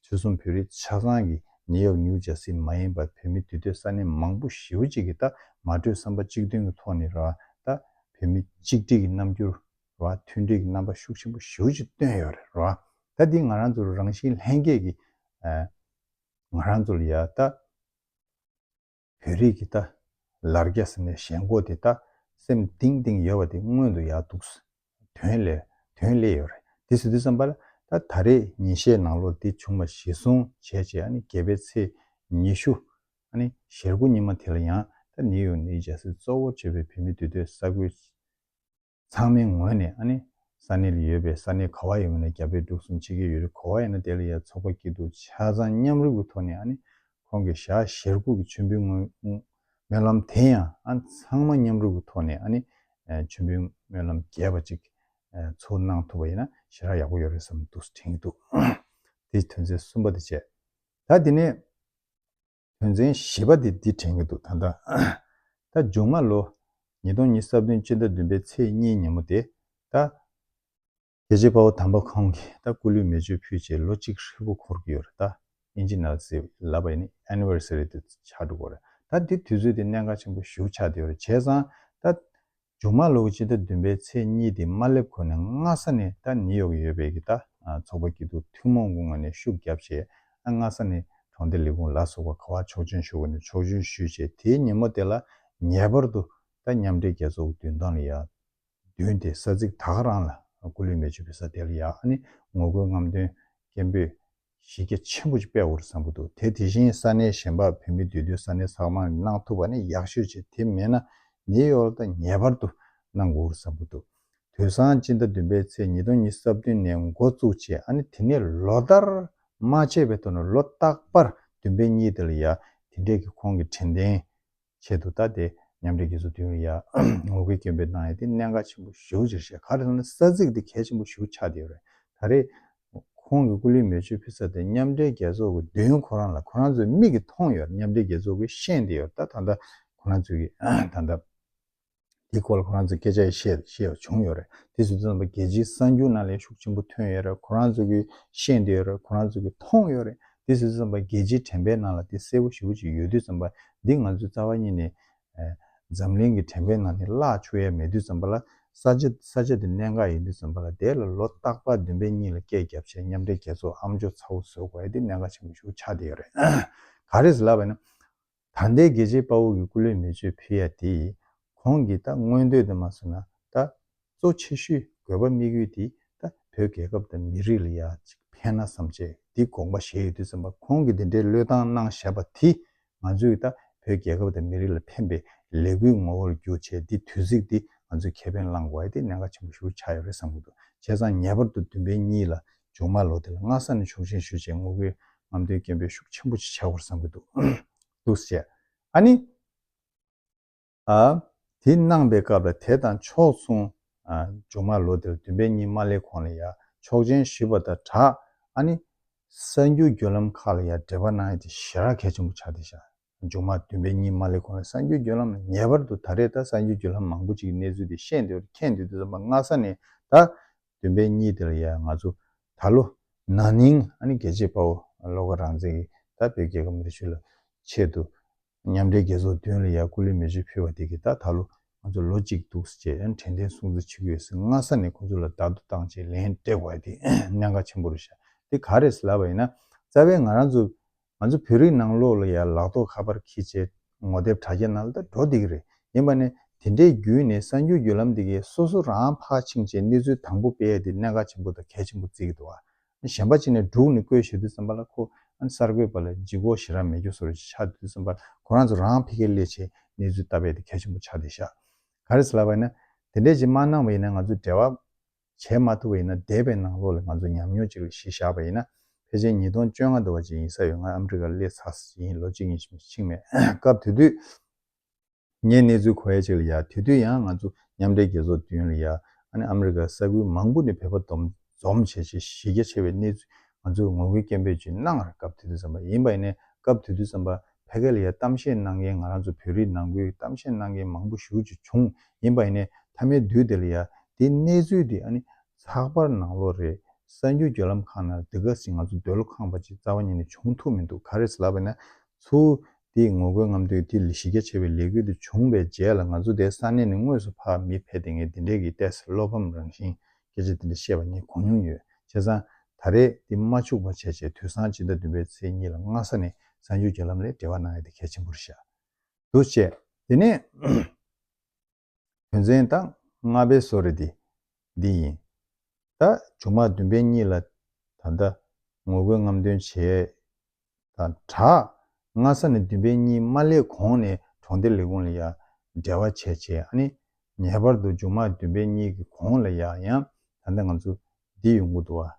ཆོལ་གསུམ་བོད་རིགས་ཆ་ཚང་གི་ནི་ཡག་ཉུག་བྱ་སྲིད་མ་ཡིན་པར་བོད་མི་དུས་སྟོད་ས་གནས་མང་པོ་ཞེ་བོ་གཅིག་གི་ལྟ་མ་གྲོས་བསམ་པ་གཅིག་མཐུན་གི་ཐོག་ནི་ར་ད་བོད་མི་གཅིག་སྒྲིག་གི་རྣམ་འགྱུར་ར་མཐུན་སྒྲིལ་གི་རྣམ་པ་ཤུགས་ཆེན་པོ་ཞེ་བོ་གཅིག་བཏོན་ཡོད་རེད་ར་ད་འདི་ང་རང་ཚོ་རང་བཞིན་ལྷན་སྐྱེས་ཀི་ང་རང་ཚོ་ལ་ཡ་ད། བོད་རིགས་ཀྱི་ད་ལར་རྒྱ་ཟེར་ནས་གཞན་མགོ་དེ་ད་སེམས་གཏིང་གཏིང་ཡོད་པ་དེ་སྔོན་དུ་ཡག་འདུག་དོན་ལས་དོན་སླེ་ཡོད་རེད་དེ་ཟེར་དུས་བསམ་པ་ལ་ད་ད་རེས་ཉིན་ཤས་ནང་ལོ་དེ་བྱུང་བ་ཞེ་བཟུང་བྱས་རྗེས་ཨ་ནི་བརྒྱད་པའི་ཚེས་ཉི་ཤུ་ཨ་ནི་ཞལ་དགུ་ཉི་མ་དེ་ལ་ཡང་ད་ནིའུ་ཡོག་ནི་རྒྱ་སེ་གཙོ་བོ་བྱས་པའི་བོད་མི་འདུས་སྡོད་ས་ཁུལ་ཚང་མའི་ངོས་ནས་ཨ་ནི་ས་གནས་ལ་ཡོད་པའི་ས་གནས་ག་བ་ཡིན་མིན་ལ་རྒྱ་བོད་འབྲུག་གསུམ་ཆེ་གེ་ཡོད་རིགས་གོ་བ་ཡིན་ན་དེ་ལ་ཡང་ཚོགས་པ་སྐྱིད་སྡུག་ཆ་ཚང་མཉམ་རུབ་ཀྱི་ཐོག་ནས་ཨ་ནི་ཁོང་གི་ཞག་ཞེར་གུག་གི་མཆོད་འབུལ་སྔོན་སྨོན་ལམ་དེ་ཡང་ཨ་ཚང་མ་མཉམ་རུབ་ཀྱི་ཐོག་ནས་ཨ་ནི་མཆོད་འབུལ་སྨོན་ལམ་རྒྱས་པ་ཅིག་ཚུར་གནང་ཐུབ་པ་ཡིན་ན་ཞེ་དྲག་ཡག་པོ་ཡོད་རེད་བསམ་འདུག་དྲན་གྱི་འདུག་དེ་དོན་ཚན་གསུམ་པ་དེ་བྱས་ད་དེ་ནས། དོན་ཚན་བཞི་པ་དེ་འདི་དྲན་གྱི་འདུག་ད་ལྟ། ད་མཇུག་མ་ལོ། ཉིས་སྟོང་ཉིས་སྟབས་བདུན་སྤྱི་ཟླ་བདུན་པའི་ཚེས་གཉིས་ཉིན་མོ་དེ། ད། རྒྱལ་གཅེས་དཔའ་བོ་དམ་པ་ཁོང་གིས་ད་སྐུ་ལུས་མེ་མཆོད་ཕུལ་རྗེས་ལོ་གཅིག་ཧྲིལ་པོ་འཁོར་གྱི་ཡོད་རེད་ད། Indigenous Sea ལབ་པ་ཡིན་ནི Anniversary དུ་ཆགས་འགྲོ་གི་རེད་ད་འདི་དུས་ཚོད་དེ་གནད་འགག་ཆེན་པོ་བཞུགས་ཆགས་འདི་ཡོད་རེད་བྱས་ཙང་ད། ཇོ་མ་ལུག་སྤྱི་ཟླ་བདུན་པའི་ཚེས་གཉིས་དེ་མ་སླེབས་གོང་ནས་སྔ་ས་ནས་ད་ནི་ཡོག་ཡོད་པའི་གི་ད་ཚོགས་པ་སྐྱིད་སྡུག་ཐུན་མོང་གུང་ང་ནས་ཤུགས་རྒྱབ་བྱས་ཨ་སྔ་ས་ནི་གྲོང་སྡེ་ལི་གུང་ལ་སོགས་པ་ག་བ་ཆོག་ཆོན་ཤོ་གུ་ནས་ཆོག་ཆོན་ཞུས་བྱས་དེའི་ཉིན་མོ་དེ་ལ་ངེས་པར་དུ་ད་མཉམ་འབྲེལ་རྒྱལ་ཚོགས་བདུན་དང་ལི་ཡག་བདུན་དེ་ས་ཚིགས་ད་ག་རང་ལ་སྐུ་ལུས་མེ་མཆོད་པའི་ས་དེ་ལ་ཡག་ཨ་ནི་ངོ་རྒོལ་རྔམ་སྟོན་སྐད་འབོད་གཞི་རྒྱ་ཆེན་པོ་ཞིག་སྤེལ་བར་བསམ་གྱི་འདུག་དེ་དེ་བཞིན་ས་གནས་གཞན་པར་བོད་མི་འདུས་སྡོད་ས་གནས་ཚང་མར་གནང་ཐུབ་པ་ནི་ཡག་ཤོས་ཆེ་དེ་མེད་ན་ནེའི་ཡོར་དང་ངེས་པར་དུ་གནང་དགོས་བསམ་གྱི་འདུག་དུས་སང་སྤྱི་ཟླ་བདུན་པའི་ཚེས་ཉིས་སྟོང་ཉིས་སྟོང་རྩ་བདུན་ནས་འགོ་བཙུགས་བྱས་ཨ་ནི་དེ་ནས་ལོ་ལྟར་མ་བྱས་པའི་ཐོག་ནས་ལོ་རྟག་པར་བདུན་པའི་གཉིས་དེ་ལ་ཡང་དེ་འདྲས་ཀྱི་ཁོང་གི་དྲན་རྟེན་ཆེད་དུ་བལྟ་སྟེ་མཉམ་འབྲེལ་རྒྱལ་ཚོགས་འདུས་ཡོང་ཡ་ངོ་རྒོལ་སྐྱོན་འབེལ་གནང་ཡ་དེ་གནད་འགག་ཆེན་པོ་བཞུགས་ཕྱིར་བཤད་ག་རེ་གནང་ན་ས་ཚིགས་འདི་གལ་ཆེན་པོ་བཞུགས་ཆགས་དེ་ཡོད་རེད་ད་རེས་ཁོང་གི་སྐུ་ལུས་མེ་མཆོད་ཕུལ་ཚར་ཏེ་མཉམ་འབྲེལ་རྒྱལ་ཚོགས་ཀྱི་འདུས་ཡོང་ཁོ་རང་ལ་ཁོ་རང་ཚོའི་མིག་གིས་མཐོང་ཡོད་མཉམ་འབྲེལ་རྒྱལ་ཚོགས་ཀྱི་ཤེས་དེ་ཡོད་ད་ད་ད་ཁོ་རང་ཚོའི་གིས་ད་ད། དེའི་སྐོར་ལ་ཁོ་རང་ཚོས་སྐད་ཆ་ཡང་བཤད་བཤད་བྱུང་ཡོད་རེད། དེ་བཞིན་དུ་རྣམ་པ་རྒྱལ་སྤྱིའི་གསར་འགྱུར་ནང་ལས་ཤུགས་ཆེན་པོ་ཐོན་ཡོད་རེད་ཁོ་རང་ཚོས་ཀྱིས་ཤེས་འདོད་ཡོད་རེད་ཁོ་རང་ཚོས་ཀྱིས་མཐོང་ཡོད་རེད། དེ་བཞིན་དུ་རྣམ་པ་རྒྱལ་སྤྱིའི་དྲན་པའི་ནང་ལ་དེ་གསལ་པོ་ཞིབ་པོ་ཅིག་ཡོད་དུས་རྩམ་པ་འདི་ང་ཚོའི་རྩ་བ་ཉིད་ནས། འཛམ་གླིང་གི་དྲན་པའི་ནང་ནས་བརླག་ཆོག་ཡས་མེད་དུས་རྩམ་པ་ལ་ས་ཆ་ས་ཆ་དེ་གནད་འགག་ཡིན་དུས་རྩམ་པ་ལ་དེ་ལ་ལོ་རྟག་པར་བདུན་པའི་གཉིས་ལ་སྐད་བརྒྱབ་བྱས་མཉམ་འབྲེལ་རྒྱལ་ཚོགས་ཨམ་ཅོག་ཚ་བོ་བཟོས་དགོས་ཡས་དེ་གནད་འགག་ཆེན་པོ་ཞུགས་ཆགས་བསྡད་ཡོད་རེད། ག་རེ་ཟེར་ལབ་པ་ཡིན་ན། ད་ལྟའི་རྒྱལ་གཅེས་དཔའ་བོ་གི་སྐུ་ལུས་མི་བཅོས་ཕུལ་ཡ་དེ་ཡིས་གོང་གི་ད་མངོན་འདོད་དུ་མ་བཟུང་ན་ད་གཙོ་ཆེ་ཤོས་དགོས་པ་དམིགས་ཡུལ་དེ་ད་བོད་རྒྱལ་ཁབ་དང་མི་རིགས་ལ་ཡ་གཅིག་ཕན་ན་བསམ་བྱས་འདི་དགོངས་པ་བཞེས་ཡོད་དུས་བསམ་པ་གོང་གི་འདི་འདྲའི་བློས་བཏང་གནང་བཞག་པ་དེ་ང་ཚོའི་ད་བོད་རྒྱལ་ཁབ་དང་མི་རིགས་ལ་ཕན་པའི་ལས་འགུལ་ངོ་བོར་འགྱུར་ཆེད་འདི་དུས་ཚིགས་འདི་ང་ཚོས་ཁེ་ཕན་བླང་དགོས་ཡ་དེ་གནད་འགག་ཆེན་པོ་ཞུ་ཆགས་ཡོད་རེད་བསམ་གྱི་འདུག་བྱས་ཙང་ངེས་པར་དུ་བདུན་པའི་གཉིས་ལ་ཇོ་མང་ལོ་དེ་ལ་སྔགས་གསར་ནས་ཕྱོགས་ཞེན་ཞུ་ཆེད་ངོ་རྒོལ་ངམ་དོན་རྐྱེན་འབོད་ཤུགས་ཆེན་པོ་ཅིག་བྱ་དགོས་བསམ་གྱི་འདུག་འདུག་བཤད་ཨ་ནི། ཨ། དེ་གནང་པའི་སྐབས་ལ་དེ་དང་ཕྱོགས་མཚུངས། ཨ། ཇོ་མང་ལོ་དེ་ལ་བདུན་པའི་ཉིན་མ་ལེ་ཁོང་ལ་ཡང་ཆོག་མཆན་ཞུས་པ་དང་གྲགས་ཨ་ནི། གསར་འགྱུར་བརྒྱུད་ལམ་ཁག་ལ་ཡང་འབྲེལ་བ་གནང་ཡོད་དེ་ཞེ་རགས་གལ་ཆེན་པོ་ཆགས་བསྡད་བཞག་ཡོད། མཇུག་མ་བདུན་པའི་ཉིན་མ་ལས་གོང་ལ་གསར་འགྱུར་བརྒྱུད་ལམ་ལ་ངེས་པར་དུ་ད་རེས་ད་གསར་འགྱུར་བརྒྱུད་ལམ་མང་པོ་ཅིག་གི་གནས་ཚུལ་དེ་བཤད་འདོད་རེ་ཁེངས་འདུག་དུས་རྩོམ་པ་སྔ་ས་ནས་ད་བདུན་པའི་ཉིན་དེ་ལ་ཡང་ང་ཚོ་ད་ལོ་ན་ནིང་ཨ་ནི་རྒྱལ་གཅེས་དཔའ་བོ་བློ་དགའ་རང་བཙན་གྱིས་ད་བོད་རྒྱལ་ཁབ་འདི་ཆོས་ལ་ཆེད་དུ་མཉམ་འབྲེལ་རྒྱལ་ཚོགས་བདུན་ལ་ཡང་སྐུ་ལུས་མེ་ཆུ་ཕུལ་བ་དེ་གིས་ད་ད་ལོ་ང་ཚོ་ལོ་གཅིག་འདུག་ཟེར་ཅེས་དྲན་རྟེན་སྲུང་བརྩི་བྱེད་ཀྱི་ཡོད་ཟེར་སྔ་ས་ནས་ཁོ་ཚོ་ལ་བདག་བསྡུ་བཏང་ཆེད་ལན་སྤྲད་དགོས་པ་དེ་གནད་འགག་ཆེན་པོ་རེད་ཤག་དེ་ག་རེད་ཟེར་ལབ་པ་ཡིན་ན་རྩ་བའི་ང་རང་ཚོ་ང་ཚོ་བོད་རིགས་ནང་ལོག་ལ་ཡར་ལག་ཐོག་ཁ་པར་ཁི་ཆེ་ངོ་དེབ་དྲ་རྒྱ་ནལ་ད་འགྲོ་འདི་གི་རེད་ཡིན་པ་ནས་དེ་འདྲའི་རྒྱུས་ནས་གསར་འགྱུར་བརྒྱུད་ལམ་འདི་གི་སོ་སོ་རང་ཕག་ཕྱིང་ཆེ་གནས་ཚུལ་དང་པོ་སྤེལ་དེ་གནད་འགག་ཆེན་པོ་དང་གལ་ཆེན་པོ་བརྩི་གི་འདུག་གཞན་པ་ཅིག་ནས་འབྲུག་ནས་བཀོད་ཞེ་དུས་བསམ་པ་ལ་ཁོ་གསར་འགོད་པ་ལ་ལྗིད་གོག་ཞེ་རག་མེད་རྒྱུ་སོར་ཆག་དུས་བསམ་པ་ལ་ཁོ་རང་ཚོ་རང་ཕི་ཁེ་ལེ་ཆེ་གནས་ཚུལ་ལྟ་སྤེལ་དེ་གལ་ཆེན་པོ་ཆག་དེ་ཤག་ག་རེ་ཟེར་ལབ་པ་ཡིན་ན་དེ་འདྲའི་ཅིག་མ་གནང་བ་ཡིན་ན་ང་ཚོའི་འབྲེལ་བ་བྱས་མ་ཐུབ་པ་ཡིན་ན་འདས་པའི་ནང་ལོགས་ལས་ང་ཚོ་ཉམས་མྱོང་ཅིག་ལ་གཞི་བཞག་པ་ཡིན་ན་ཕལ་ཆེར་ཉིས་སྟོང་བཅོ་ལྔ་འདུ་བ་ཅིག་ཡིན་ས་ཡོད་ང་ཨ་མྲི་ཀར་སླེབས་ཚར་ཡིན་ལོ་གཅིག་གཉིས་གཅིག་མ་ཕྱིན་མེད་སྐབས་དེ་དུས་ངས་གནས་ཚུལ་གོ་ཡ་ཅིག་ལ་ཡ་དེ་དུས་ཡང་ང་ཚོ་མཉམ་འབྲེལ་རྒྱལ་ཚོགས་བདུན་ལ་ཡ་ཨ་ནི་ཨ་མྲི་ཀར་ས་ཁུལ་མང་པོ་ནས་བོད་པ་སྡོམ་འཛོམས་བྱེད་ཆེད་གཞི་རྒྱ་ཆེ་བའི་གནས་ཚུལ་ང་ཚོས་ངོ་རྒོལ་སྐད་འབོད་ཅིག་གནང་ཡར་སྐབས་དེ་དུས་བརྩམས་པ་ཡིན་པ་ཡིན་ནས་སྐབས་དེ་དུས་བརྩམས་པ་ཕལ་ཀལ་ཡའི་གཏམ་བཤད་གནང་མཁན་ང་རང་ཚོ་བོད་རིགས་ནང་ཁུལ་གཏམ་བཤད་གནང་མཁན་མང་པོ་ཞུ་རྒྱུ་བྱུང་ཡིན་པ་ཡིན་ནའི་མཐའ་མའི་དུས་དེ་ལ་ཡ་དེའི་གནས་ཚུལ་དེ་ཨ་ནི་ཚགས་པར་ནང་ལོ་རེ་གསར་འགྱུར་བརྒྱུད་ལམ་ཁང་ནང་དེ་ག་ཟིག་ང་ཚོ་འདོད་བློ་ཁངས་པ་ཅིག་རྩ་བ་ཉིད་ནས་བྱུང་ཐུབ་མི་འདུག་ག་རེ་ལབ་པ་ན་ཚུ་དེའི་ངོ་རྒོལ་རྔམ་སྟོན་དེ་གཞི་རྒྱ་ཆེ་བའི་ལས་འགུལ་དེ་བྱུང་བའི་རྗེས་ལ་ང་ཚོ་དེ་ས་གནས་ནས་དངོས་སུ་ཕར་མི་ཕེད་དེ་ངས་དེ་འབྲེལ་གྱི་ལྟས་བསལོ་ཕམ་རང་བཞིན་སྐད་ཆ་འདི་འདྲ་བཤད་པ་ངས་གོ་མྱོང་ཡོད། བྱས་ཙང། ད་རེས་འདི་མ་འཕྱུགས་པར་བྱས་རྗེས་དུས་སང་སྤྱི་ཟླ་བདུན་པའི་ཚེས་གཉིས་ལ་སྔ་ས་ནས་གསར་འགྱུར་བརྒྱུད་ལམ་ལས་འབྲེལ་བ་གནང་ཡ་དེ་གལ་ཆེན་པོར་བཞག་འདུག་བཅས། དེ་ནས། དོན་ཚན་དང་ལྔ་པའི་གསོལ་རས་དེ་འདི་ཡིན། ད། ཆུང་མ་བདུན་པའི་གཉིས་ལ་ད་ལྟ། ངོ་རྒོལ་རྔམ་སྟོན་བྱས། དང་གྲགས། ངྷ་ས་ནི་བདུན་པའི་གཉིད་མ་སླེབས་གོང་ནས་གྲོང་སྡེ་ལས་ཁུངས་ལ་ཡང་འབྲེལ་བ་བྱས་བྱས་ནས། ངེས་པར་དུ་མཇུག་མ་བདུན་པའི་གཉིད་ཀྱི་གོང་ལ་ཡང་ཡང་ད་ལྟ་ང་ཚོ་འདི་ཡོང་གི་འདུག་བ།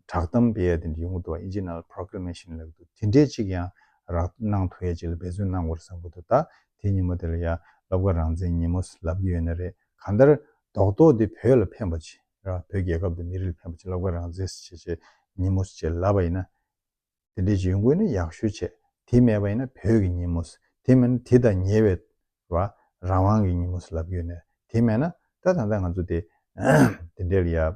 གྲགས་གཏམ་འབེལ་ཡ་དེ་འདྲ་ཡོང་གི་འདུག་བ Iginal Proclamation ལབ་གི་འདུག་དེ་འདྲའི་ཅིག་ཡང་རག་གནང་ཐུག་ཡ་ཅིག་ལ་འབད་བརྩོན་གནང་དགོས་རེད་བསམ་གི་འདུག་ད་དེ་ཉིན་མོ་དེ་ལ་ཡང་ལབ་ག་རང་བཙན་ཉིན་མོ་ལབ་གི་ཡོད་ན་རེད་གང་ལྟར་རྡོག་རྡོག་འདི་བོད་ལ་ཕན་པ་ཆེ་ར་བོད་རྒྱལ་ཁབ་དང་མི་རིགས་ལ་ཕན་པ་ཆེ་ལབ་ག་རང་བཙན་སེ་བྱེད་བྱེད་ཉིན་མོ་སེ་བྱེད་ལབ་པ་ཡིན་ན་དེ་འདྲའི་ཇུས་འགོད་ནི་ཡག་ཤོས་ཆེ། དེ་མེད་པ་ཡིན་ན་བོད་ཀྱི་ཉིན་མོ། དེ་མིན་ན་དེ་དང་ཉེ་བའི། བ། རང་དབང་གི་ཉིན་མོ་ལབ་རྒྱུ་ཡིན། དེ་མེད་ན། ད་ད་ལྟ་ང་ཚོ་དེ། དེ་འདྲའི་ལ་ཡ།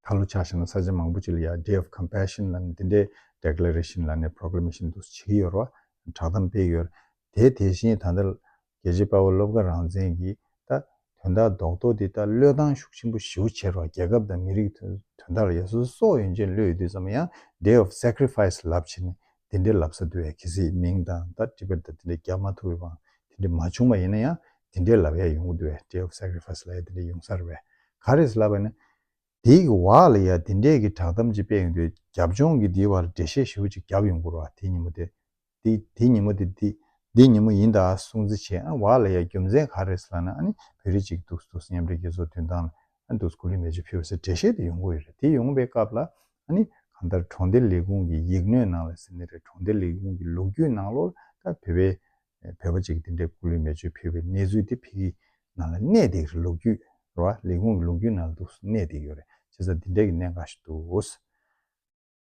ད་ལོ་ཆགས་ཞེ་ན་ས་ཆ་མང་པོ་ཅིག་ལ་ཡ Day of Compassion ལ་ནི་དེ་འདྲའི Declaration ལ་ནི Proclamation འདུག་བྱེད་ཀྱི་ཡོད་རེད་བ། བསྒྲགས་གཏམ་སྤེལ་གྱི་ཡོད་རེད། དེ་དེ་བཞིན་ད་ལྟ། རྒྱལ་གཅེས་དཔའ་བོ་སློབ་དགའ་རང་བཙན་གྱིས་ད་དོན་དག་རྡོག་རྡོག་འདི་ལྟར་བློས་བཏང་ཤུགས་ཆེན་པོ་ཞིའུ་བྱེད་རོགས་རྒྱལ་ཁབ་དང་མི་རིགས་དོན་དག་ལ་ཡ་སོ་སོག་ཡོན་ཅན་བློས་བསྡུས་ཙམ་ཡང Day of Sacrifice ལབ་བྱེད་ནས་འདི་འདྲའི་ལབ་ས་འདུ་བའི་གལ་སྲིད་མིང་དང་ད་དཀྲི་པའི་ད་འདི་འདྲའི་རྒྱག་མ་ཐུབ་པའི་བང་དེ་འདྲའི་མ་བྱུང་པ་ཡིན་ན་ཡང་འདི་འདྲའི་ལབ་ཡ་ཡོང་གི་འདུ་བའི Day of Sacrifice ལ་ཡ་འདི་འདྲའི་ཡོང་ས་རེད་བས་ག་རེས་ལབ་པ་ནི་འདིའི་གི་བག་ལ་ཡ་འདི་འདྲའི་གི་བྲག་གཏམ་ཅིག་སྤེལ་ཡོང་དུས་རྒྱབ་ལྗོངས་གི་འདིའི་བར་འགྲེལ་བཤད་ཞིའུ་ཅིག་རྒྱབ་ཡོང་དགོས་རོགས་ད་ཉིན་མོ་དེ་འདི་འདི་ཉིན་མོ་འདི་འདི་འདི་ཉིན་མོ་ཡིན་ད་སྲུང་རྩི་བྱས་ཨ་བག་ལ་ཡ་རྒྱུ་མཚན་ག་རེད་ཟེར་ན་ཨ་ནི་བོད་རིགས་ཅིག་འདུག་འདུག་སྙམ་རེད་རྒྱལ་ཚོགས་དུས་མདང་ལ་ཨ་འདུག་སྐུ་ལུས་མེ་ལྕེ་ཕུལ་བ་ཟེར་འགྲེལ་བཤད་དེ་ཡོང་གི་ཡོད་རེད་དེ་ཡོང་པའི་སྐབས་ལ་ཨ་ནི་གང་ལྟར་གྲོང་སྡེ་ལས་ཁུངས་ཀྱི་ཡིག་སྣོད་ནང་ལ་ཟེར་ནི་རེད་གྲོང་སྡེ་ལས་ཁུངས་ཀྱི་ལོ་རྒྱུས་ནང་ལོར་ད་བོད་པའི་བོད་པ་ཅིག་འདི་འདྲས་སྐུ་ལུས་མེ་ལྕེ་ཕུལ་བའི་གནས་ཚུལ་དེ་ཕི་གི་ནང་ལ་གནས་འདེགས་རེད་ལོ་རྒྱུས་ར་བ་ལས་ཁུངས་ཀྱི་ལོ་རྒྱུས་ནང་ལ་འདུག་གནས་འདེགས་ཡོད་རེད་བྱས་ཙང་འདི་འདྲས་ཀྱི་གནས་འགའ་ཞིག་འདུག།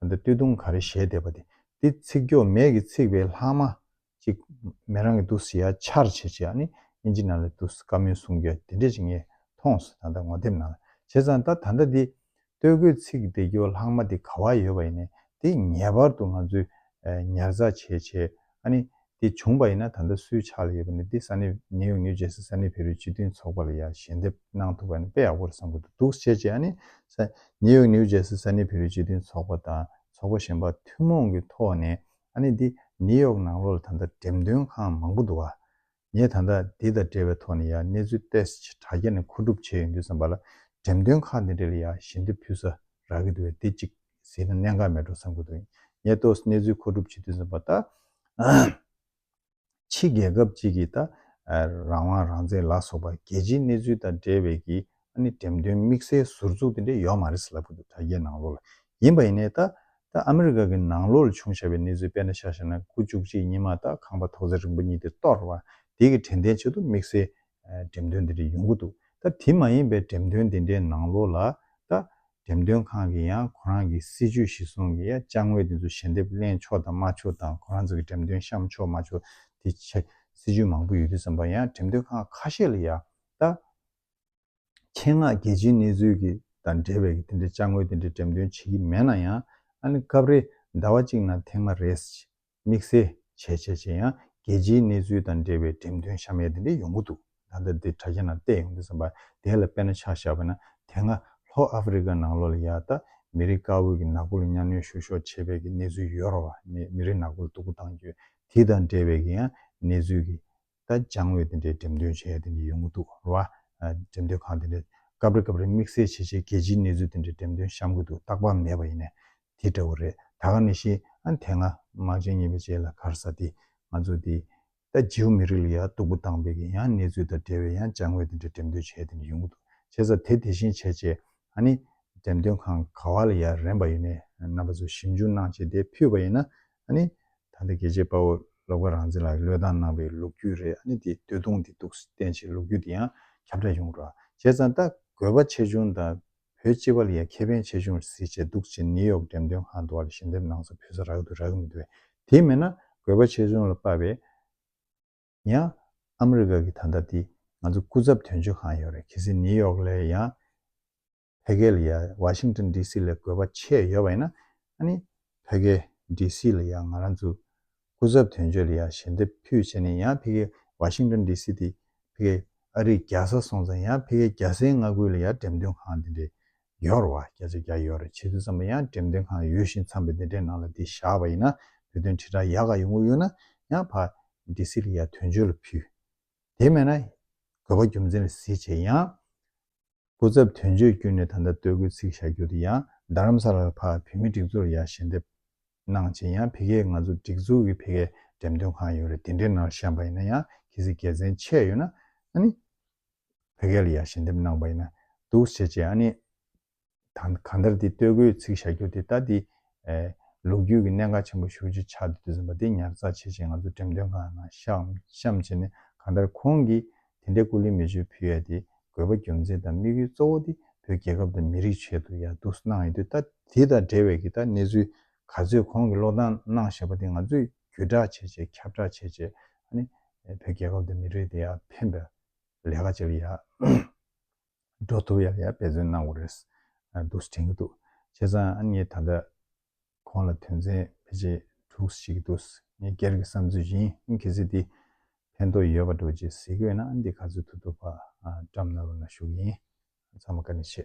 ད་ལྟ་སྟོད་ཐུང་ག་རེ་བཞད་བསྡད་པ་དེ་འདི་ཚིག་འགྱོགས་མེད་ཀྱི་ཚིག་བའི་ལྷག་མ་ཅིག་མེད་རང་གི་འདུག་ཟེར་ཡ་ཆར་བྱེད་བྱེད་ཡ་ནི་དབྱིན་ཇི་ནང་ལ་འདུག་ཟེར་བཀའ་མོལ་གསུང་རྒྱུ་ཡ་དེ་འདྲས་ཅིག་ངས་མཐོང་སོང་ད་ལྟ་ངོ་དེབ་ནང་ལ་བྱེད་ཙང་ད་ད་ལྟ་འདི་སྟོད་གོས་ཚིག་བསྡད་འགྱོགས་ལྷག་མ་དེ་ག་བ་ཡོད་པ་ཡིན་ནས་དེ་ངེས་པར་དུ་ང་ཚོས་ཉར་ཚགས་བྱེད་བྱེད་ཨ་ནི། དེ་བྱུང་བ་ཡིན་ན་ད་ལྟ་སུའི་ཕྱག་ལ་ཡོད་པ་ནི་འདི་ས་གནས་ནེའུ་ཡོག་ནིའུ་ཇེར་སི་ས་གནས་བེ་རུའི་སྤྱི་མཐུན་ཚོགས་པ་ལ་ཡང་ཞལ་འདེབས་གནང་ཐུབ་པ་ནི་དཔེ་ཡག་པོ་རེད་བསམ་གྱི་འདུག་འདུག་བྱས་རྗེས་ཨ་ནི། ས་ནེའུ་ཡོག་ནིའུ་ཇེར་སི་ས་གནས་བེ་རུའི་སྤྱི་མཐུན་ཚོགས་པ་དང་ཚོགས་པ་གཞན་པ་ཐུན་མོང་གི་ཐོག་ནས་ཨ་ནི་འདི་ནེའུ་ཡོག་ནང་ལོགས་ལ་ད་ལྟ་འགྲེམས་སྟོན་ཁང་མང་པོ་འདུག་ཨ་ངས་ད་ལྟ་འདི་དང་འབྲེལ་བའི་ཐོག་ནས་ཡང་གནས་ཚུལ་ཏེ་ཆེ་དྲག་བརྒྱ་ནས་མཁོ་སྒྲུབ་བྱས་ཡོང་དུས་བསམ་པ་ལ་འགྲེམས་སྟོན་ཁག་འདི་འདྲ་ལ་ཡང་ཞལ་འདེབས་ཕུལ་ས་རག་གི་འདུག་བས་འདི་གཅིག་ཟིན་ན་གནད་འགག་མེད་འགྲོ་བསམ་གྱི་འདུག་ངས་ཏོས་གནས་ཚུལ་མཁོ་སྒྲུབ་བྱེད་དུས་བསམ་པ་ད་ཕྱི་རྒྱལ་ཁབ་ཅིག་གིས་ད་རང་དབང་རང་བཙན་ལ་སོགས་པ་རྒྱལ་སྤྱིའི་གནས་ཚུལ་དང་འབྲེལ་བའི་གི་ཨ་ནི་འགྲེམས་སྟོན་དམིགས་བསལ་ཟུར་ཚུགས་དེ་འདྲ་ཡོད་མ་རེད་ལབ་གི་འདུག་དྲ་རྒྱའི་ནང་ལོགས་ལ་ཡིན་པ་ཡིན་ནའི་ད་ལྟ་ཨ་མི་རི་ཀ་གི་ནང་ལོགས་ལ་བྱུང་བཞག་པའི་གནས་ཚུལ་དཔེར་ན་ཤ་ཤ་ན་དགུ་བཅུ་གཅིག་ཉིན་མ་ད་ཁང་པ་ཐོག་ཚད་རིང་པོ་གཉིས་དེ་གཏོར་བ་དེ་གི་དྲན་རྟེན་ཆེད་དུ་དམིགས་བསལ་འགྲེམས་སྟོན་དེ་འདྲ་ཡོང་གི་འདུག་ད་དེ་མ་ཡིན་པའི་འགྲེམས་སྟོན་དེ་འདྲའི་ནང་ལོགས་ལ་ད་འགྲེམས་སྟོན་ཁང་གི་ཡང་ཁོ་རང་གི་སྲིད་ཇུས་གཞི་བཟུང་གི་ཡ་ལྕགས་ངོས་དེ་ཚོ་ཞལ་འདེབས་གླེང་ཆོག་དང་མ་ཆོག་དང་ཁོ་རང་ཚོ་གི་འགྲེམས་སྟོན་བཤམས་ཆོག་མ་ཆོག་དེ་ཆ་སྲིད་ཇུས་མང་པོ་ཡོད་དུས་བསམ་པ་ཡང་འགྲེམས་སྟོན་ཁང་ཁ་ཤས་ལ་ཡང་ད་ཆེད་མངགས་རྒྱལ་སྤྱིའི་གནས་ཚུལ་གྱི་དང་འབྲེལ་བའི་དེ་འདྲའི་དཔྱ་དངོས་དེ་འདྲའི་འགྲེམས་སྟོན་བྱེད་ཀྱི་མེད་ན་ཡང། ཨ་ནི་སྐབས་རེ་ཟླ་བ་གཅིག་ནང་ཐེངས་མ་རེ་ཟིག་དམིགས་བསལ་བྱས་བྱས་བྱས་ཡང་རྒྱལ་སྤྱིའི་གནས་ཚུལ་དང་འབྲེལ་བའི་འགྲེམས་སྟོན་ཤ་མེད་དེ་འདྲ་ཡོང་གི་འདུག་ད་ལྟ་འདིར་དྲ་རྒྱ་ནང་བལྟས་ཡོང་དུས་བསམ་པ་དེ་ལ་དཔེར་ན་ཆ་བཞག་པ་ན་དེ་སྔ་ལྷོ་ཨ་ཧྥི་རི་ཀ་ནང་ལོ་ལ་ཡ་ད་མི་རིགས་དཀར་བོ་གི་ནག་པོ་ལ་གཉའ་གནོན་ཤུགས་ཤོག་བྱས་པའི་གི་གནས་ཚུལ་ཡོད་རོགས་མི་རིགས་ནག་པོ་ལ་སྡུག་པོ་བཏང་རྒྱུ་དེ་དང་འབྲེལ་བའི་གི་ཡང་གནས་ཚུལ་གི་ད་སྦྱང་བའི་དེ་འདྲའི་འགྲེམས་སྟོན་བྱེད་ཡ་དེ་འདྲ་ཡོང་གི་འདུག་ར་བ། འགྲེམས་སྟོན་ཁང་དེ་འདྲ། སྐབས་རེ་སྐབས་རེ་དམིགས་བསལ་བྱེད་ཆེད་རྒྱལ་སྤྱིའི་གནས་ཚུལ་དེ་འདྲའི་འགྲེམས་སྟོན་བཤམ་གི་འདུག་རྟག་པར་མེད་པ་ཡིན་ནས་དེ་འདྲ་བོ་རེད་ད་ག་ནས་ཤེས། དེ་སྔ་དམག་ཆེན་གཉིས་པའི་རྗེས་ལ་གར་ས་དེ་ང་ཚོ་དེ། ད་རྗེའུ་མི་རིགས་ལ་ཡ་སྟུག་པོ་བཏང་པས་ཀྱི་ཡང་གནས་ཚུལ་དང་འབྲེལ་བའི་ཡང་སྦྱང་བའི་དེ་འདྲའི་འགྲེམས་སྟོན་བྱེད་ཡ་དེ་འདྲ་ཡོང་གི་འདུག་བྱེད་ས་དེ་དེ་བཞིན་བྱེད་ཆེད་ཨ་ནི། འགྲེམས་སྟོན་ཁང་ག་བ་ལ་ཡ་རན་པ་ཡོད་ནས་རྣམ་པ་ཚོ་ཞིབ་འཇུག་གནང་ཆེད་དེ་ཕུད་པ་ཡིན་ན་ཨ་ནི། ད་ལྟ་རྒྱལ་གཅེས་དཔའ་བོ་སློབ་དགའ་རང་བཙན་ལགས་ཀྱི་བློས་བཏང་གནང་བའི་ལུགས་རྒྱུད་རེད་ཨ་ནི་དེ་བསྟོད་གདུང་དེ་གཏུགས་བསྟན་བྱའི་ལུགས་རྒྱུད་དེ་ཡང་ཁྱབ་བསྒྲགས་ཡོང་རོགས་བྱས་ཙང་ད་དགོས་པ་ཆེ་ཆུང་དང་བོད་སྤྱི་བ་ལ་ཡང་ཁེ་ཕན་ཆེ་ཆུང་གཟིགས་བྱས་འདུག་ཅེས་ནིའུ་ཡོག་འགྲེམས་སྟོན་ཁང་དུ་བ་ལ་ཞལ་འདེབས་གནང་ས་ཕུལ་ས་རག་ཏུ་རག་མི་འདུག་དེ་མེད་ན་དགོས་པ་ཆེ་ཆུང་ལ་དཔག་པའི་ཡང་ཨ་མི་རི་ཀ་གི་ད་ལྟ་དེ་ང་ཚོ་སྐུ་ཚབ་དོན་གཅོད་ཁང་ཡོད་རེད་གལ་སྲིད་ནིའུ་ཡོག་ལ་ཡང་བྷེ་གྷེ་ལ་ཡང་བྷ་ཤིང་ཏོན་ལྡི་སི་ལས་དགོས་པ་ཆེ་ཡོད་པ་ཡིན་ན་ཨ་ནི་བྷེ་གྷེ་ལྡི་སི་ལ་ཡང་ང་རང་ཚོའི་སྐུ་ཚབ་དོན་གཅོད་ལ་ཡང་ཞལ་འདེབས་ཕུལ་བྱས་ནས་ཡང་བྷེ་གྷེ་བྷ་ཤིང་ཏོན་ལྡི་སི་དེ་བྷེ་གྷེ་ཨ་རིའི་རྒྱལ་ས་སོང་ཙང་ཡང་བྷེ་གྷེ་རྒྱལ་སའི་མངའ་ཁུལ་ལ་ཡང་འགྲེམས་སྟོན་ཁང་དེ་འདྲའི་ཡོད་རེད་བ་སྐད་ཆ་རྒྱག་ཡོད་རེད་བྱེད་དུས་ཙམ་པ་ཡང་འགྲེམས་སྟོན་ཁང་ཡོད་བཞིན་འཚམས་པའི་དེ་འདྲའི་ནང་ལ་དེ་བཞག་པ་ཡིན་ན་བོད་དོན་དྲིལ་བསྒྲགས་ཡག་ག་ཡོང་གི་ཡོད་ན་ཡང་བྷ་ལྡི་སི་ལ་ཡང་དོན་གཅོད་ལ་ཕུལ་དེ་མེད་ན་དགོས་པ་རྒྱུ་མཚན་ལ་གཟིགས་བྱས་ཡང་སྐུ་ཚབ་དོན་གཅོད་བརྒྱུད་ནས་ད་ལྟ་སྟོད་སྐུལ་ཚིག་བཞག་རྒྱུ་དེ་ཡང་རྡ་རམ་ས་ལར་ཕ་བུད་མེད་སྒྲིག་འཛུགས་ལ་ཡར་ཞལ་འདེབས་གནང་རྗེས་ཡང་ཕི་ཁའི་ང་ཚོ་སྒྲིག་འཛུགས་ཀྱི་ཕི་ཁའི་འགྲེམས་སྟོན་ཁང་ཡོད་རེད་དེ་འདྲའི་ནང་བཤམས་པ་ཡིན་ན་ཡང་གལ་སྲིད་དགེ་མཚན་ཆེ་ཡོད་ན་ཨ་ནི་ཕི་ཁའི་ལ་ཡར་ཞལ་འདེབས་གནང་པ་ཡིན་ན་འདུག་བྱས་རྗེས་ཨ་ནི་དང་གང་ལྟར་དེ་སྟོད་གོས་ཚིག་བཞག་རྒྱུ་དེ་ལྟ་དེ། ལོ་རྒྱུས་ཀྱི་གནད་འགག་ཆེན་པོ་ཞུ་རྒྱུ་ཆགས་འདུག་དེ་ཟིན་པ་དེ་ཉར་ཚགས་བྱེད་ཆེད་ང་ཚོ་འགྲེམས་སྟོན་ཁང་ནང་བཤམས་བྱས་ནས་གང་ལྟར་ཁོང་གིས་དེ་འདྲའི་སྐུ་ལུས་མེ་མཆོད་ཕུལ་ཡ་དེ་དགོས་པ་རྒྱུ་མཚན་དང་དམིགས་ཡུལ་གཙོ་བོ་དེ་བོད་རྒྱལ་ཁབ་དང་མི་རིགས་ཆེད་དུ་ཡར་འདུག་གནང་ཡོད་དུས་ལྟ་དེ་དང་འབྲེལ་བའི་གི་ལྟ་གནས་ཚུལ་ག་ཚོད་ཁོང་གིས་བློ་བཏང་གནང་ཞེས་པ་དེ་ང་ཚོས་བརྒྱུད་བསྒྲགས་བྱེད་ཆེད་ཁྱབ་བསྒྲགས་བྱེད་ཆེད་ཨ་ནི་བོད་རྒྱལ་ཁབ་དང་མི་རིགས་དེ་ཡར་འཕེན་པའི་ལས་ཀ་བྱེད་ཀྱི་ཡ། འགྲོ་ཐུབ་ཡག་ཡག་འབད་བརྩོན་གནང་བ་རེད་འདུག་དྲན་གྱི་འདུག་བྱས་ཙང་ཨ་མྱེས་ད་ལྟ་ཁོང་ལ་དོན་ཚན་བེད་སྤྱད་དྲུག་ཞིག་གི་འདུག་ངས་སྒེར་གྱི་བསམ་ཚུལ་བཞིན་གལ་སྲིད་འདི་ཕན་ཐོག་ཡོད་པ་འགྲོ་ཅེས་གཟིགས་འོས་ན་འདི་ག་ཚོད་ཐུབ་ཐུབ་བགྲམ་གནང་རོགས་གནང་ཞུ་གི་ཡིན་ཚང་མ་བཀའ་དྲིན་ཆེ།